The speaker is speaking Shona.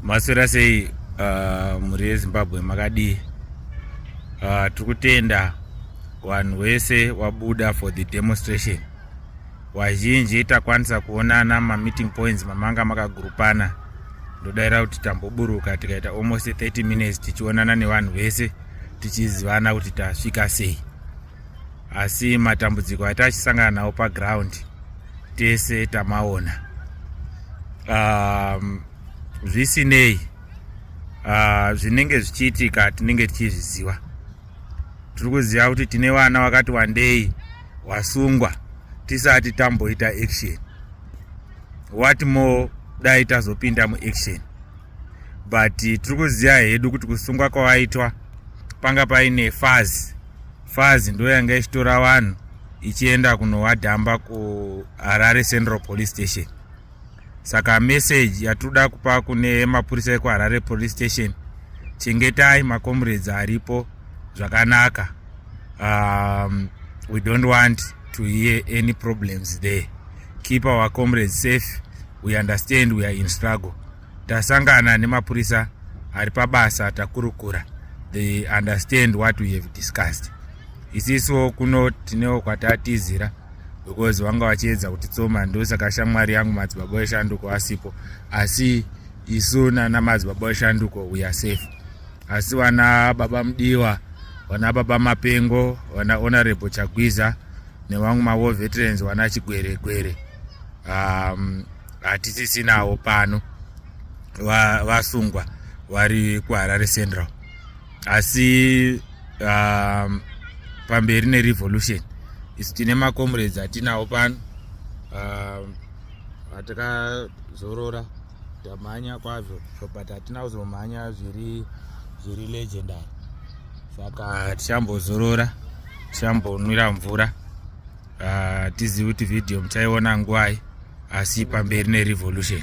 maswera sei uh, mhuri yezimbabwe makadii uh, tiri kutenda vanhu wese wabuda for the demonstration wazhinji takwanisa kuonana mameeting points mamanga makagurupana ndodaira kuti tamboburuka tikaita almost 30 minutes tichionana nevanhu vese tichizivana kuti tasvika sei asi matambudziko ati achisangana nawo paground tese tamaona um, zvisinei uh, zvinenge zvichiitika tinenge tichizviziva tiri kuziva kuti tine vana vakati wandei wasungwa tisati tamboita action what more dai tazopinda muaction but tiri kuziva hedu kuti kusungwa kwavaitwa panga paine fazi fazi ndo yanga ichitora vanhu ichienda kunovadhamba kuharare central police station saka meseji yatinoda kupa kune mapurisa ekuharare police station chengetai macomrades aripo zvakanaka um, we don't want to hear any problems there keep our comrades safe we understand we are in struggle tasangana nemapurisa ari pabasa takurukura they understand what we have discussed isiso kuno tinewo kwatatizira because vanga vachiedza kuti tsoma ndosaka shamwari yangu madzibaba eshanduko asipo asi isu nana madzibaba eshanduko we are safe asi vana baba mudiwa vana baba mapengo vana honorable chagwiza nevamwe mavo veterans vana chigweregwere um, hatisisinawo pano vasungwa vari kuharare central asi um, pamberi nerevolution isu tine macomrades atinawo pano um, atakazorora tamhanya kwazvo so but hatina kuzomhanya zviri zviri legendary saka tichambozorora tichambonwira mvura hatizivi ah, kuti vhidhiyo muchaiona ngwai asi pamberi nerevolution